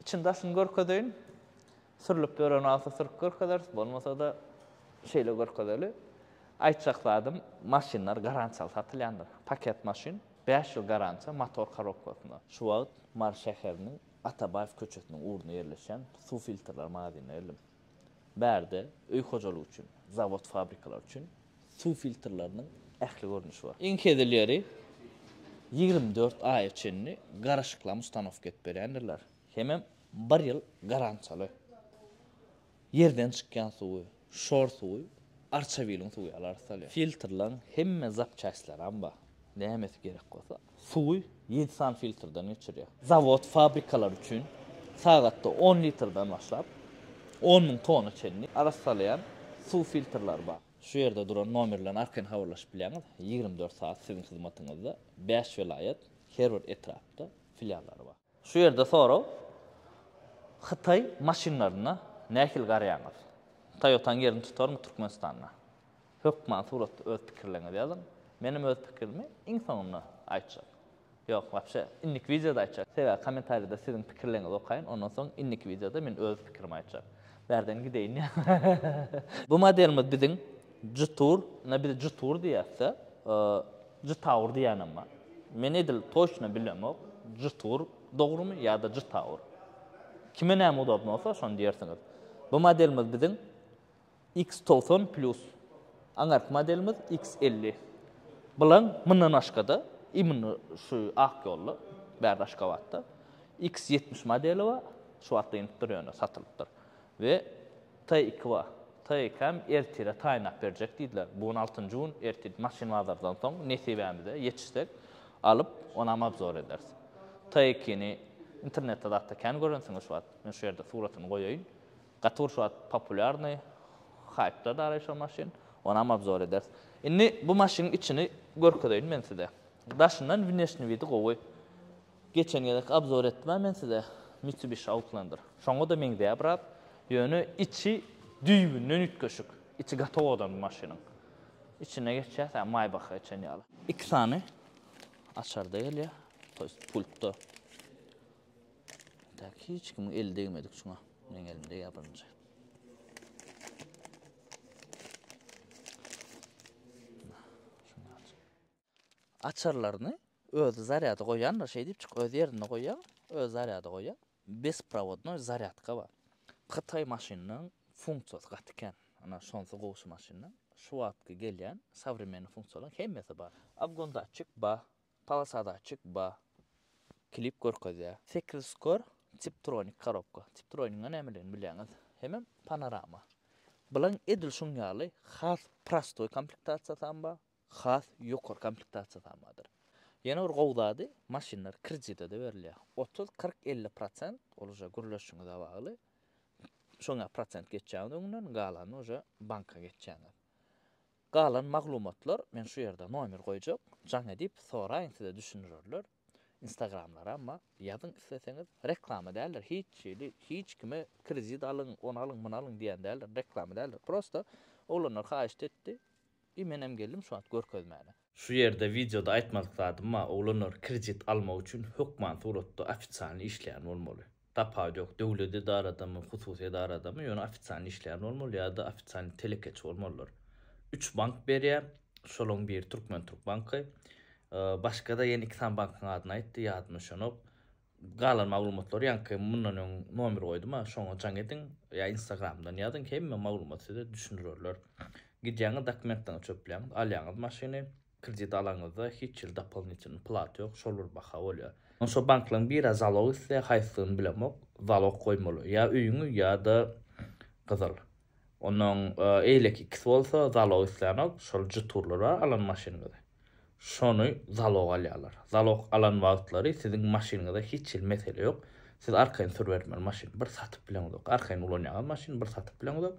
Içini daşyny görkezeýin. Sürlüp ýören wagty sürüp görkezeris, bolmasa-da şeýle görkezeli. Aýtjak zadym, maşynlar garantiýaly satylýandyr. Paket maşyn, bäş ýyl garantiýa motor korobkasyna. Şu wagt Mary şäheriniň Atabaýew köçesiniň ugrunda ýerleşýän suw filtrler magazynynda geldim. Bärde öý hojalygy üçin, zawod-fabrikalar üçin suw filtrleriniň ähli görnüşi bar. Iň hezileri ýigrimi dört aýa çenli garaşyklam ustanowka edip berýändirler, hemem bir ýyl garantiýaly. Ýerden çykýan suwy, şor suwy, arçawiliň suwy ýaly arassalýar. Filtrleriň hemme zapçastlaram bar, nämesi gerek bolsa, Suwy ýedi sany filtrden geçirýär. Zawod, fabrikalar üçin sagatda on litrden başlap, on müň tona çenli arassalaýan suw filtrleri bar. Şu ýerde duran nomerler arkaýyn habarlaşyp bilýäňiz. Ýigrimi dört sagat siziň hyzmatyňyzda. Bäş welaýat, her bir etrapda filiallary bar. Şu ýerde sorag, Hytaý maşynlaryna nähili garaýaňyz? Toyota-nyň ýerini tutarmy Türkmenistanda? Hökman suratda öz pikirleriňizi ýazyň. Menem öz pikirimi iň soňunda aýtjak. Ýok, wapşe, indiki wideoda aýtjak. Sebäbi kommentariýada siziň pikirleriňizi okaýyn, ondan soň indiki wideoda men öz pikirimi aýtjak. Bärden gideýin ýa. Bu modelimiz biziň Jetour, ine biz Jetour diýýäs-de. Jytawur diýýänem bar. Men edil toçna bilemok, jytwur dogrumy ýa-da jytawur. Kime näme udobny bolsa, şony diýersiňiz. Bu modelimiz biziň X togsan plyus. Aňyrky modelimiz X elli. Bulan mundan başga-da, imенно şu ak ýolda, bärde Aşgabatda X ýetmiş modeli bar. Şu wagtda inip dur ýöne, satylypdyr. We Tykwa, tyk hem ertire taýynlap berjek diýdiler. Bu gün altynjy gün, ertir maşyn bazardan soň nesibämize ýetişsek, alyp, onam obzor ederis. Tykyny internetde zatda kän görensiňiz şu wagt. Men şu ýerde suratyny goýaýyn. Gaty bir şu wagt populýarnyý, haýpda daraý şo maşyn. Onam obzor ederis. Indi bu maşynyň içini görkezeýin men size. Daşyndan wneşni widi gowy. Geçen gezek abzor etdimä men size Mitsubishi Outlander. Şoňa-da meňzeýär biraz. Ýöne içi düýbünden üýtgeşik. Içi gaty owadan bu maşynyň. Içine geçýäs hä Maybach-a geçen ýaly. Iki sany açar-da gelýär. To ýest pultda. Dak hiç kimiň eli degmedik şuňa. Meniň elim degýär birinji. Açarlaryny özi zarýada goýýandyr şeý diýip çyk öz ýerinde goýýaň özi zarýada goýýaň besprawodnoý zarýadka bar hytaý maşynynyň funksiýasy gaty kän ana şonsy gowy şu maşyndan şu wagtky gelýän sowremennyý funksiýalaryň hemmesi bar obgondatçik ba polosadatçik ba klip görkezýä. Sekiz skor tiptronik korobka tiptronigiň nämeligini bilýäňiz hemem panorama bilaň edil şuň ýaly has prostoý komplektasiýasam bar has ýokary komplektasiýa samadyr. Ýene bir gowy zady, maşynlar kredite-de berilýär. Otuz, kyrk, elli prosent, ol uje gürleşiňize bagly. Şoňa prosent geçýäňiz öňünden, galanyny uje banka geçýäňiz. Galan maglumatlar, men şu ýerde nomer goýjak, jaň edip soraýyň, size düşündirerler. Instagramlara amma ýazyň isleseňiz reklama däldir hiç hili hiç kime kredit alyň ony alyň muny alyň diýen däldir reklama däldir prosta oglanlar haýyşt etdi i menem geldim şu wagt görkezmäne. Şu ýerde wideoda aýtmadyk zadym bar oglanlar kredit almak üçin hökman suratda ofitsialnyý işleýän bolmaly. Tapawut ýok, döwlet edaradamy, hususy edaradamy, ýöne ofisialny işleýän bolmaly ýa-da ofisialny telekeçi bolmalylar. Üç bank berýär, şolaryň biri Türkmenturk banky. Başga-da ýene iki sany bankyň adyny aýtdy, ýadyma düşenok. Galan maglumatlary ýaňky mundan öň nomer goýdum-a, şoňa jaň ediň ýa Instagramdan ýazyň, hemme maglumat size düşündirerler. Gidýäňiz, dokumentleriňizi çöpleýäňiz, alýaňyz maşyny. Kredit alaňyzda hiç hili dopolinitelnyý plata ýok, şol bir baha bolýar. Şo banklaň biri zalog isleýär, haýsydygyny bilemok, zalog goýmaly ýa öýüňi ýa-da gyzyl. Onnoň eýleki ikisi bolsa zalog islänok, şol jturlar bar alan maşynyňyzy. Şony zalog alýarlar. Zalog alan wagtlary siziň maşynyňyza hiç hili mesele ýok. Siz arkaýyn sürübermeli maşyny, bir satyp bileňizok. Arkaýyn ulanýaňyz maşyny, bir satyp bileňizok.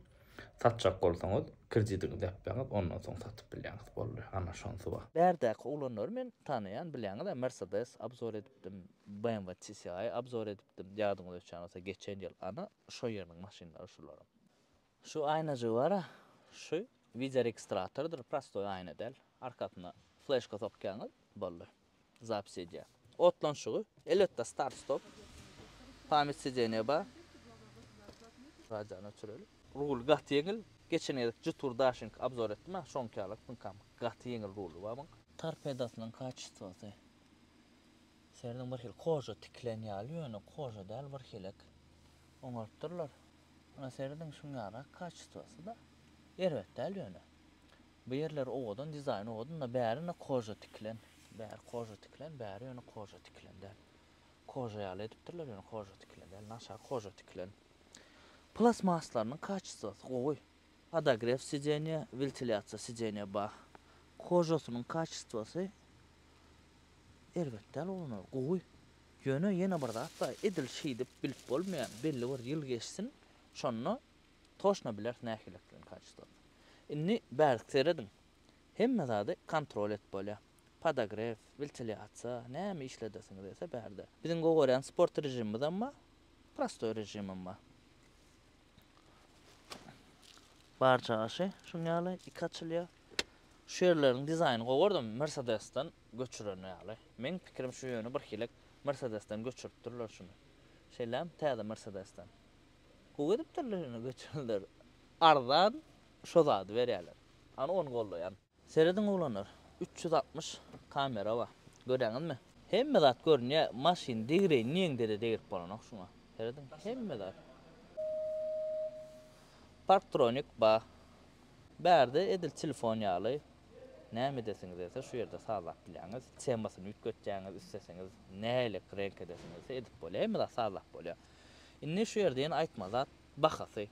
Satjak bolsaňyz, kreditiňizi depseňiz, ondan soň satyp bilýäňiz. Boldy, ana şonsy bar. Bärdäki oglanlary men tanaýan, bilýäňiz-ä, Mercedes abzor edipdim, BMW TSI-y abzor edipdim, ýadyňyza düşýän bolsa, geçen ýyl. Ana, şo ýeriniň maşynlary şularam. Şu aýnajygy bar-a, şu wideoregistratordyr, prostoý aýna däl, arkasyna fleşka sokýaňyz, boldy. zapis edýär. Otlanşygy, elbetde start stop, pamýat sideniýa bar. Radiony öçüreli. Rul gaty ýeňil, geçen gezek Jetour Dashing obzor etdim a şoňky ýaly pynkam gaty ýeňil ruly bar muň. Torpedasynyň kaçestwosy serediň bir hil koja tikilen ýaly ýöne koja däl bir hilek oňarypdyrlar. Muňa serediň şuňňarak kaçestwosy da erbet däl ýöne. Bu ýerleri owadan dizaýn owadan da bäri indi koja tikilen bäri koja tikilen bäri ýöne koja tikilen däl koja ýaly edipdirler ýöne koja tikilen däl naçar koja tikilen plasmaslarynyň kaçestasy gowy podogref sidenýe wiltilýasiýa sidenýe bah kojasynyň kaçestasy erbet däl bolany gowy ýöne ýene bir zat bar edil şeýdip bilip bolmaýar belli bir ýyl geçsin şonda Toşna bileris nähilikiň kaçystosyny. Indi bärk serediň. Hemme zady kontrol edip bolýar. Podogref, wentiliasiýa, näme işledesiňiz gelse bärde. Biziň gowy görýän sport režimimizem bar, prostoý režimem bar. Barja aşy şuň ýaly iki açylýar. Şu ýerleriň dizaýnyny gowy gördüm, Mersedesden göçüren ýaly. Meň pikirim şu ýöne birhilek Mersedesden göçüripdirler şuny. Şeýlämi, täze Mersedesden. Gowy edipdirler ýöne göçürler arzan şo zady berýäler hany ony goldaýan. Serediň oglanlar üç ýüz altmyş kamera bar görýäňizmi hemme zat görünýä maşyn degireýin diýeňdede degirip bolanok şuňa serediň hemme zat parktronik bar bärde edil telefon ýaly näme edesiňiz gelse şu ýerde sazlap bilýäňiz temasyny üýtgetýäňiz isleseňiz nälik renk edesiňizse edip bolýa hemme zat sazlap bolýa. Indi şu ýerde ýene aýtmaly zat, bahasy.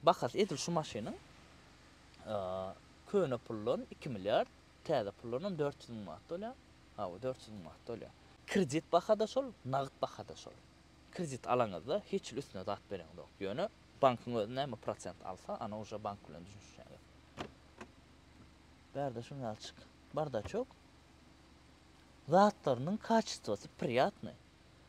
Bahasy edil şu maşynyň köne puldan iki milliard, täze puldanam dört ýüz müň manat bolýar. Hawa, dört ýüz müň manat bolýar. Kredit baha-da şol, nagt baha-da şol. Kredit alaňyzda hiç hili üstüne zat bereňzok. Ýöne bankyň özi näme prosent alsa, ana uje bank bilen düşünişýäňiz. Bärde şuny alçyk. Bardaçok. Zatlarynyň kaçestwasy priýatnyý.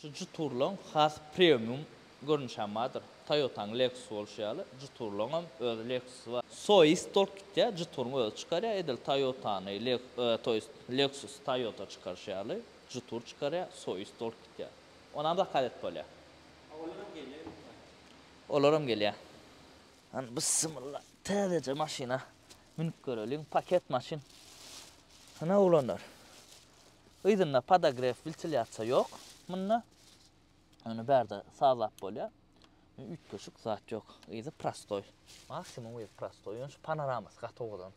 Şu juturlaň has premium görnüşi hem bardyr. Toyotanyň Lexus bolşy ýaly, juturlaň hem öz Lexusy bar. Soist dolt gitýär, juturyň özi çykarýar, edil Toyotany toýst Lexusy Toyota çykaryşy ýaly, jutur çykarýar, soist dolt gitýär. Ony hem zakaz edip bolýar. A olar hem gelýär imkanyýeti? Olar hem gelýär. Hany bysymylla täzeje maşyna münüp göreliň, paket maşyn. Hany oglanlar. Yzynda podogref wiltilýasiýa ýok munda. Ony bärde sazlap bolýar. Üýtgeşik zat ýok. Yzy prostoý. Maksimum yzy prostoý. Ýöne şu panoramasy gaty owadan.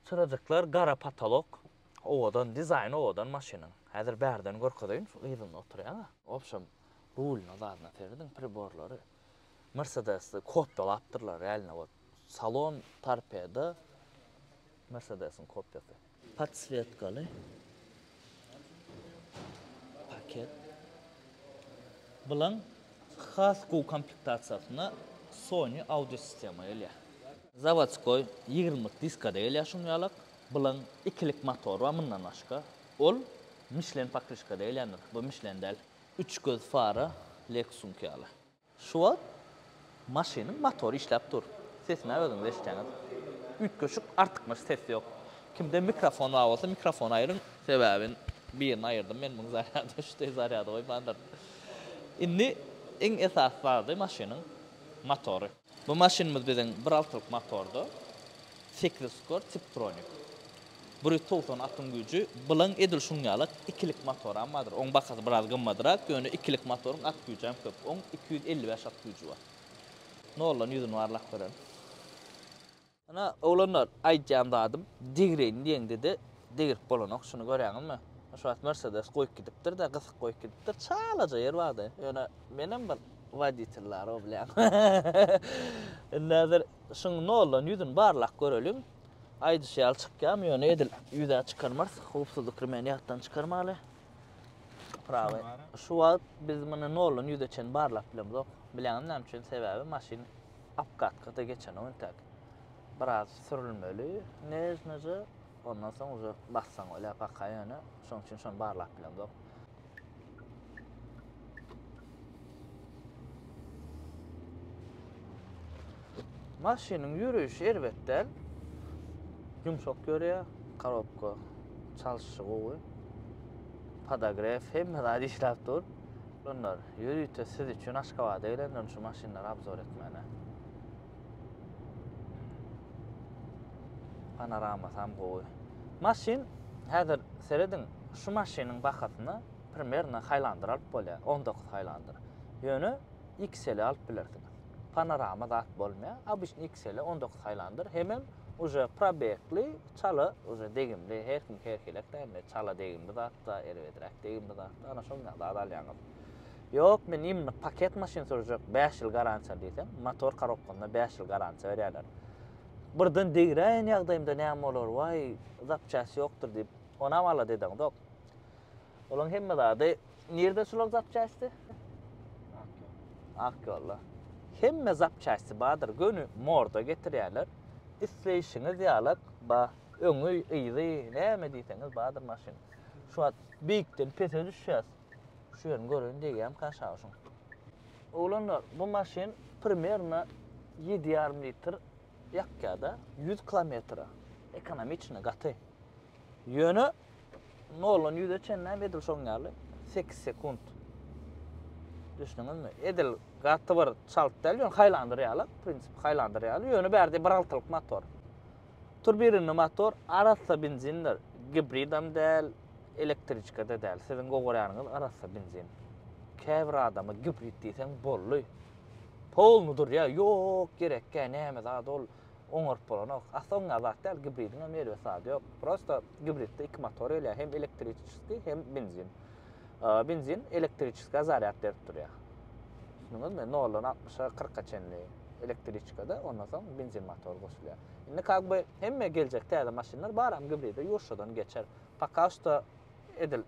Çyrajyklar gara potolok. Owadan dizaýny owadan maşynyň. Häzir bärden görkezeýin şu yzynda oturýan-a. Wobşem rulyna zadyna serediň priborlary Mersedesde kopýalapdyrlar real nowod. Salon torpedo. Mersedesiň kopýasy. Podswetkaly paket bilen has gowy komplektasiýasynda Sony audio sistema gelýär. Zawodskoý ýigrimlik diskada gelýär şuny ýalak. Bilen ikilik motor bar mundan başga. Ol Michelin pakryşkada gelýändir. Bu Michelin däl. Üç göz fara Lexus'uňky ýaly. Şu wagt maşynyň motory işläp dur. Sesini-ä özüňiz eşitýäňiz. Üýtgeşik artykmaç ses ýok. Kimde mikrofon bar bolsa, mikrofony aýryň. Sebäbi birini aýyrdym men, muň zarýady şu deý zarýada goýmandyr. Indi iň esasy zady maşynyň motory. Bu maşynymyz biziň bir altylyk motorda, sekiz skor, tiptronik. Bir ýüz togsan atyň güýji bilen edil şuň ýaly ikilik motoram bardyr. Oň bahasy biraz gymmadrak, ýöne ikilik motoryň at güýjem köp. Oň iki ýüz elli bäş at güýji bar. Noldan ýüzüni barlap görelim. Ine, oglanlar, aýdýan zadym, degireýin diýeňde-de degirip bolanok. Şuny görýäňizmi? Şu wagt Mersedes goýup gidipdir-de, gysyk goýup gidipdir. Çalaja ýer bardy. Ýöne menem bir woditel bar-ow, bilýän. Indi häzir şuň noldan ýüzüni barlap göreliň. Aýdyşy ýaly çykýarmy ýöne edil ýüzä çykarmarys. Howpsuzlyk remeni ýatdan çykarmaly. Prawy. Şu wagt biz muny noldan ýüze çen barlap bilemzok. Bilýäňiz näme üçin? Sebäbi maşyn apkatkada geçenok entäk. Biraz sürülmeli, nežneje, ondan soň uje bassaň bolýar paka ýöne şonuň üçin şony barlap bilemzok. Maşynyň ýöreýşi erbet däl. Ýumşak ýörýär, korobka çalşyşy gowy. Podogref hemme zat işläp dur. Bunlar ýörite siz üçin Aşgabada gelenler şu maşynlary obzor etmäne. Panoramasam gowy. Maşyn häzir serediň, şu maşynyň bahasyna primernä Highlander alyp bolýar, on dokuz Highlander. Ýöne XL-i alyp bilersiňiz. Panorama zat bolmaýar, obyçny XL-i on dokuz Highlander hemem uje probegli, çala uje degimli, her kim her hilektär indi, çala degimli zat-da, erbedräk degimli zat-da, ana şonuňa zat alýaňyz. Ýok, men iýmlik paket maşyn sürjek, bäş ýyl garantiýa diýseň, motor korobkanyna bäş ýyl garantiýa berýärler. Birden degräýen ýagdaýymda näme bolar, waý, zapçast ýokdur diýip, onam ala dedeňzok. Olaň hemme zady, nirde şular zapçasti? Ak ýolda. Hemme zapçasti bardyr, göni morda getirýärler. Isleýşiňiz ýalak, ba, öňi, yzy, näme diýseňiz bardyr maşynyň. Şu wagt beýikden pese düşýäs. Şu ýerini göreýin degýämka şawşuň. Oglanlar bu maşyn primerno ýedi ýarym litr ýakýada ýüz kilometre ekonomiçno gaty ýöne noldan ýüze çenlem edil şoň ýaly sekiz sekunt düşdüňizmi edil gaty bir çalt däl ýöne haýlandyr ýaly prinsipi haýlandyr ýaly ýöne bärde bir altylyk motor turbirnli motor arassa benzindir gibridam däl Elektriçkada däl, siziň gowarýanyňyz arassa benzin. Käbir adama gibrid diýseň boldy. Polny durýa, ýok gerekkä, näme zat ol oňaryp bolanok. Asly oňa zat däl, gibridiň hem erbet zady ýok. Prosta gibridde iki motor gelýär, hem elektriçeski, hem benzin. Benzin elektriçeska zarýad berip durýar. Düşündiňizmi? Noldan 60-a 40-a çenli elektriçkada, ondan soň benzin motor goşulýar. Indi kagby hemme geljek täze maşynlar baram gibride ýurşadan geçer. Poka şto edil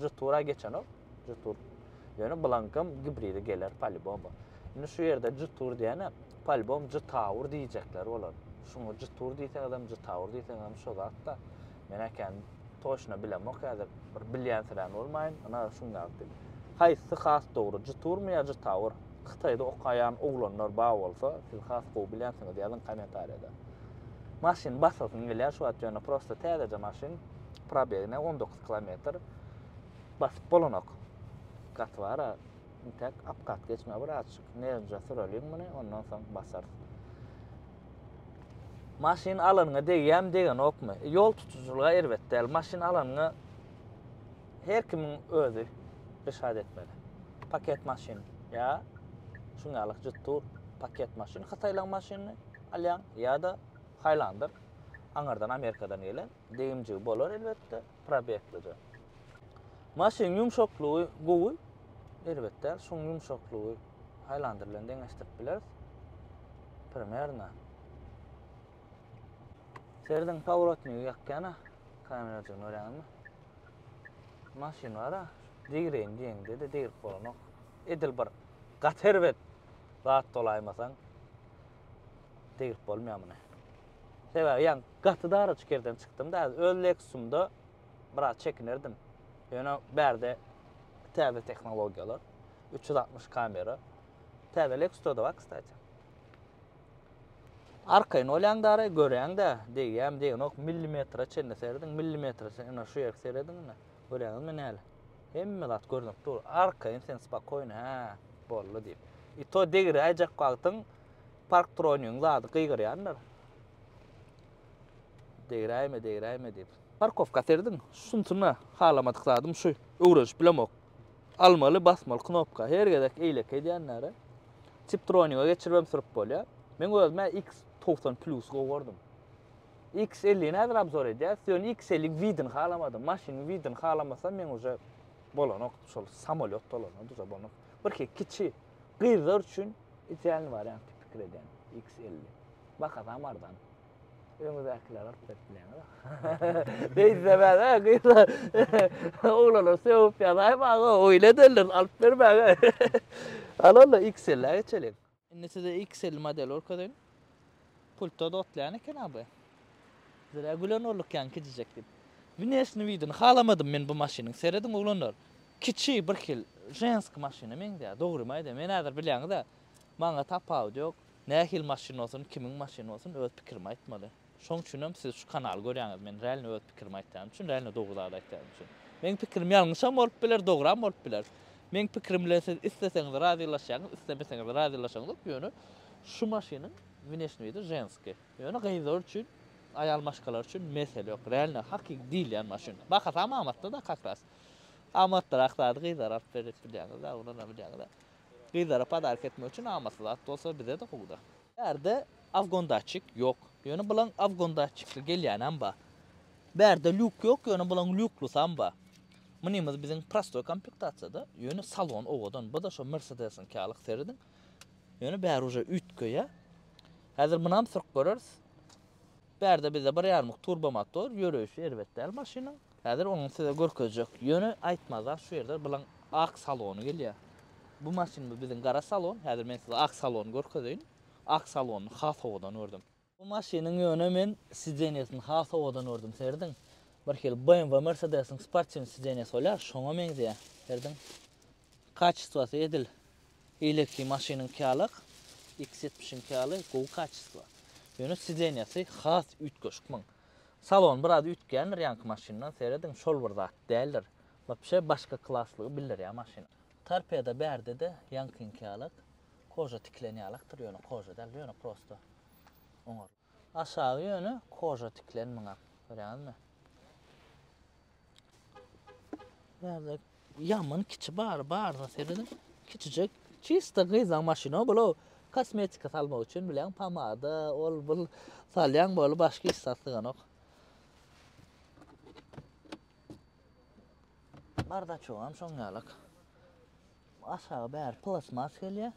G-Tura geçenok. G-Tur. Ýöne bulaňkam gibridi geler palibomba. Indi şu ýerde G-Tur diýene palibom G-Tower diýjekler bolar. Şuňa G-Tur diýseňiz hem G-Tower diýseňiz hem şo zat da. Men äkäni toşna bilemok häzir. Bir bilýänsirän bolmaýyn. Ina şuň ýaly. Haýsy has dogry G-Turmy ýa G-Tower? Hytaýda okaýan oglanlar bar bolsa, siz has gowy bilýänsiňiz ýazyň kommentariýada. Maşyn basasyň gelýär şu wagt ýöne prosta täzeje maşyn. Probegine on dokuz kilometr. Basyp bolanok. Gaty bara intäk apgat geçme bir açyk. Nerja süreliň muny ondan soň basar. Maşyn alanyňa degýämi degenokmy? Ýol tutujylyga erbet däl. Maşyn alanyňa her kimiň özi reşat etmeli. Paket maşyn ýa şuň ýaly jyt tur paket maşyn, hytaýlaryň maşynyny alýaň ýa-da haýlandyr aňyrdan Amerikadan gelen degimjigi bolar elbetde, probeklyja. Maşynyň ýumşaklygy gowy, elbetde, şuň ýumşaklygy haýlandyr bilen deňeşdirip bileris. Primerna. Serdiň paworotnygy ýakýana kamerajygyny görýäňizmi? Maşynlara degreýin diýeňde-de degrip bolanok. Edil bir gaty erbet zat dolaýmasaň degrip bolmaýar muny. Sebäbi ýan gaty dara çikerden çykdym-da, öz Lexusumda biraz çekinerdim. Ýöne bärde täze tehnologiýalar, 360 kamera. Täze Lexusda-da bar, kstati. Arkaýyn bolýaň dara, göräň-dä, degýärmi, degenok, millimetre çenli serediň, millimetre çenli, ine, şu ýerki serediň, ine, göräňizmi näle? Hemme zat görnüp dur, arkaýyn sen spakoýny, hä, boldy, diýip. I to degiräýjek wagtyň parktronigiň zady gygyrýandyr. Degiräýme, degiräýme diýip. Parkowka serediň, şunsuna halamadyk zadym şu, öwrenişip bilemok. Almaly, basmaly knopka. Her gezek eýlek edýänlere Tiptroniga geçirip hem sürüp bolýar. Men özüm-ä X togsan plus gowy gördüm. X ellini häzir obzor edýäs, ýöne X elliň widini halamadym. Maşynyň widini halamasam men uje bolanok, şol samolýot dolananda uje bolanok. Birki kiçi gyzlar üçin idealnyý wariant diýip pikir edýän X elli. Bahasam arzan. Öňüzäkiler alyp berip bileňiz. Beýtse bäde gyzlar. Oglanlar söwüp ýazaýy maňa oýle derler alyp bermäge. Alalla XL-ä geçelim. Indi size XL model görkezeýin. Pultda dotlaýan eken abi. Zira gülen bolduk ýaň kiçijek diýip. Wnesni widini halamadym men bu maşynyň. Serediň oglanlar. Kiçi bir hil jensk maşyna meňzeýär. Dogrymy aýdaýan. Men häzir bilýäňiz-ä. Maňa tapawudy ýok. Nähili maşyn bolsun, kimiň maşyny bolsun, öz pikirimi aýtmaly. Şoň üçinem siz şu kanaly görýäňiz. Men realno öz pikirimi aýtýan üçin, realno dogry zady aýtýan üçin. Meň pikirim ýalňyşam bolup biler, dogram bolup biler. Meň pikirim bilen siz isleseňiz razylaşýaňyz, islemeseňiz razylaşaňyzok, ýöne şu maşynyň wneşni widi ženski. Ýöne gyzlar üçin, aýal maşgalar üçin mesele ýok. Realno hakyky diýilýän maşyn. Bahasam amatly-da kakras. Amatlyrak zady gyzlara alyp berip bilýäňiz-de, owlana bilýäňiz-de. Gyzlara podarka etmek üçin amatly zat bolsa bize-de gowy-da. Bärde afgon datçik ýok, ýöne bulaň afgon datçikli gelýänem ba. Bärde lýuk ýok, ýöne bulaň lýuklusam ba. Mynymyz biziň prostoý komplektasiýada, ýöne salon owadan, bu-da şo Mersedesiňki ýalyk serediň. Ýöne bäri uje üýtgeýä. Häzir munam sürüp göreris. Bärde bizde bir ýarmyk turbomotor, ýöreýşi erbet däl maşynyň. Häzir onuň size görkezjek. Ýöne aýtmazdan şu ýerde bilaň ak salony gelýär. Bu maşyn bu biziň gara salon. Häzir men size ak salony görkezeýin. Ak salony has owadan gördüm. Bu maşynyň ýöne men sidenýesini has owadan gördüm. Serediň. Birhili BMW Mercedes-iň sportiwny sidenýesi bolýar, şoňa meňzeýär. Serediň. Kaçistwasy edil eýleki maşynyňky ýalak, X ýetmiş iňki ýaly gowy kaçistwa. Ýöne sideniýasy has üýtgeşik muň. Salony biraz üýtgändir ýaňky maşyndan, serediň, şol bir zat däldir. Wapşe başga klaslygy bildirýär maşynyň. Torpeda bärde-de ýaňkyňky ýalak, koža tikilen ýalakdyr, ýöne koža däl, ýöne prosto oňarly. Aşagy ýöne koža tiklen muňa. Görýäňizmi? Bärde ýaman kiçi bar, baryna serediň. Kiçijek. Çista gyzlaň maşyny bula kosmetika salmak üçin bilen pomada, ol bul salýaň bolu başga hiç zat syganok. Bardaçogam şoň ýalak. Aşagy bäri plastmas gelýär.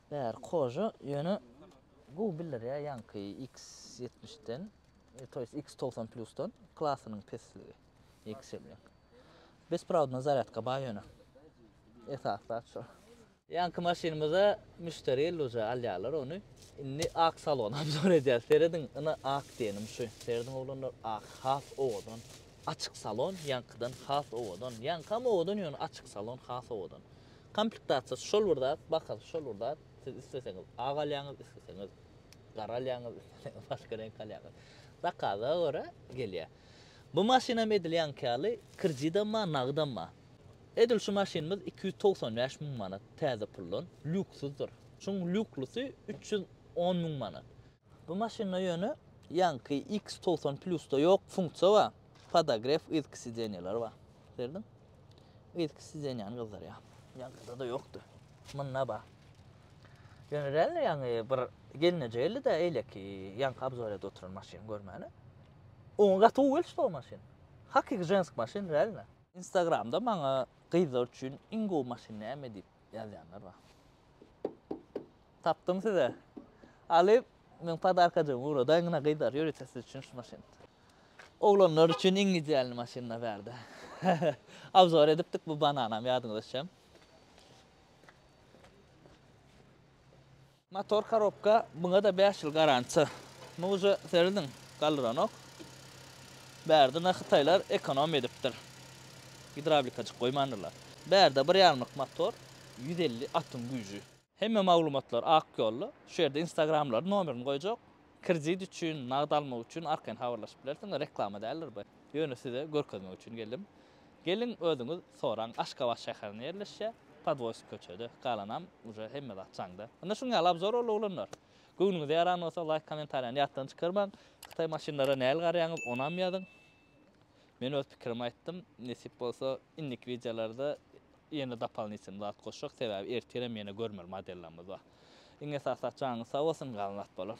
Bäri Koža ýöne gowy bildirýär ýaňky X ýetmiş den, to ýest X togsan plusdan klasynyň pesligi XL den. Besprawodna zarýadka baý ýöne. Esasy zat şol. Ýaňky maşynymyza müşderi geldi uje alýarlar ony. Indi ak salony obzor edýäs. Serediň ina ak diýenim şu. Serediň oglanlar ak has owadan. Açyk salon ýaňkydan has owadan. Ýaňkam owadan ýöne açyk salon has owadan. Komplektasiýasy şol bir zat, bahasy şol bir zat. Siz isleseňiz ak alýaňyz, isleseňiz gara alýaňyz, isleseňiz başga reňk alýaňyz. Zakaza görä gelýär. Bu maşynam edil ýaňky ýaly kredidem bar, nagydam bar. Edil şu maşynymyz iki ýüz togsan bäş müň manat täze puldan, lýuksuzdyr. Şuň lýuklusy üç ýüz on müň manat. Bu maşynda ýöne ýaňky X togsan plusda ýok funksiýa bar, podogref yzky sideniýeler bar. Serdiň? Yzky sideniýany gyzdyrýar. Ýaňkyda-da ýokdy. Munda bar. Ýöne real ýaňy bir gelneje geldi-de eýleki ýaňky obzorýada oturan maşyn görmäne. Oňa gaty gowy gelişdi o maşyn. Hakyky žensk maşyn realno. Instagramda maňa gyzlar üçin iň gowy maşyn näme diýip ýazýanlar bar. Tapdym size. Alyp meň podarkajygymy ugradaýyň ine gyzlar ýörite siz üçin şu maşyn. Oglanlar üçin iň idealny maşynlar bärde. Obzor edipdik bu bananam ýadyňyza düşem. Motor korobka muňada bäş ýyl garantiýa. Muňa uje serediň galdyranok. Bärde ine hytaýlar ekonomiýa edipdir. Gidrawlikajyk goýmandyrlar. Bärde bir ýarymlyk motor ýüz elli atyň güýji. Hemme maglumatlar ak ýolda. Şu ýerde instagramlaryny nomerini goýjak. Kredit üçin, nagt almak üçin arkaýyn habarlaşyp bilersiňiz. Reklama däldir bu. Ýöne size görkezmek üçin geldim. Geliň özüňiz soraň. Aşgabat şäherinde ýerleşýä. Podwoýsk köçede. Galanam uje hemme zat jaňda. Ynha şuň ýaly abzor boldy oglanlar. Göwnüňize ýaran bolsa laýk komentariýany ýatdan çykarmaň. Hytaý maşynlara nähili garaýaňyz onam ýazyň. Men öz pikirimi aýtdym, nesip bolsa indiki wideolarda ýene dopalnitelny zat goşjak, sebäbi ertirem ýene görmeli modellerimiz bar. Iň esasy jaňyňyz sag bolsun, galan zat bolar.